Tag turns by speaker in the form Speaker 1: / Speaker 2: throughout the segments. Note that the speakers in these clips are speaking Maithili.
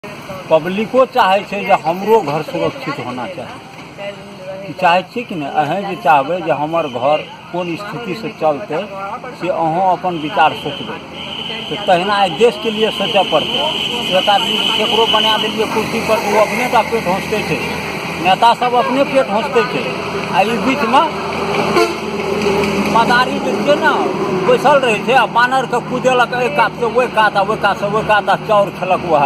Speaker 1: पब्लिको चाहै छै जे हमरो घर सुरक्षित होना चाही चाहै छी कि नहि अहेँ जे चाहबै जे हमर घर कोन स्थितिसँ चलतै से अहूँ अपन विचार सोचबै तऽ तहिना एहि देशके लिए सोचय पड़तै एक आदमी ककरो बना देलियै कुर्सीपर ओ अपने टा पेट होसतै छै नेता सब अपने पेट हँसते छै आ ई बीच में मदारी जे छै ने बैसल रहै छै आ बानर के कुदेलक एहि कात से ओहि कात आ ओहि कात से ओहि कात आ चाउर खेलक वएह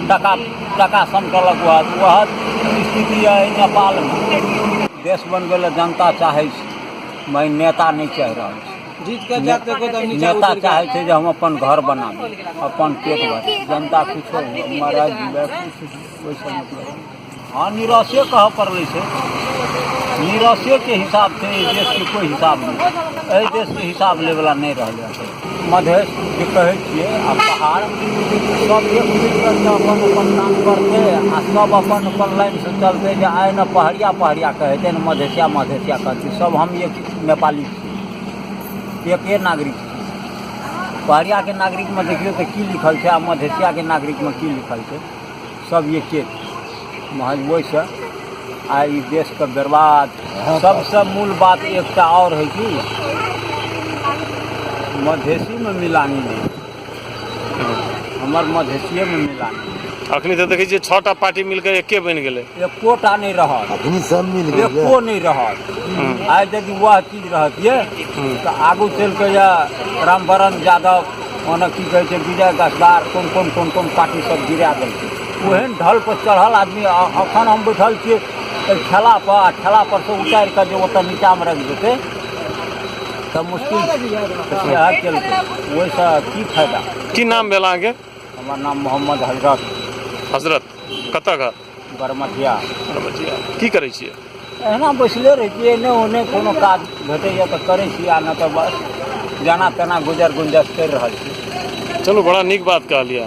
Speaker 1: टाका टाका समटलक वएह वएह स्थिति है नेपाल में देश बनबै लए जनता चाहै छै मगर नेता नहि चाहि रहल छै जीत के जात के
Speaker 2: कोदम नीचा नेता उतर के चाहै छै जे
Speaker 1: हम अपन घर बनाबी अपन पेट भरी जनता किछो मरल जीवै किछु ओहिसँ मतलब हाँ निराशे कह पड़ले से निराशे के हिसाब से एहि देश के कोई हिसाब नहीं एहि देश के हिसाब ले वाला नहीं रह जाए मधेश जे कहे छे आ पहाड़ सब एक मिलकर के अपन अपन काम करते आ सब अपन अपन लाइन से चलते जे आए न पहरिया पहरिया कहते न मधेसिया मधेसिया कहते सब हम एक नेपाली छी एके नागरिक छी पहरिया के नागरिक में देखियो तो की लिखल छे आ मधेसिया के नागरिक में की लिखल छे सब एके महज ओहिसँ आ ई देशके बर्बाद सबसँ मूल बात एकटा आओर है कि मधेसीमे मिलानी नहि हमर मधेसिएमे मिलानी अखनी तऽ देखै छियै
Speaker 3: छओ टा पार्टी मिलकर एके बनि गेलै एकोटा नहि रहल
Speaker 1: अखनी सब मिल गेल
Speaker 4: एको नहि रहल
Speaker 1: आइ यदि वएह चीज रहतियै तऽ आगू चलि कऽ यए रामवरण यादव ओना की कहै छै विजय गसदार कोन कोन कोन कोन पार्टी सब गिरा देलकै ओहन ढल पर चढ़ल आदमी अ- अखन हम बैठल छियै एहि ठेला पर आ ठेला पर से उतारि कऽ जे ओतऽ नीचा मे रखि देतै तऽ मुश्किल तऽ सएह केलकै ओहिसँ की फायदा की नाम भेल अहाँके
Speaker 3: हमर नाम मोहम्मद
Speaker 1: हजरत हजरत
Speaker 3: कतऽ घर बरमटिया
Speaker 1: बरमटिया
Speaker 3: की करै छियै एहिना बैसले
Speaker 1: रहै छियै एन्ने ओन्ने कोनो काज भेटैए तऽ करै छी आ नहि तऽ बस जेना तेना गुजर
Speaker 3: गुंजस
Speaker 1: करि रहल
Speaker 3: छी चलू
Speaker 1: बड़ा नीक बात
Speaker 3: कहलियै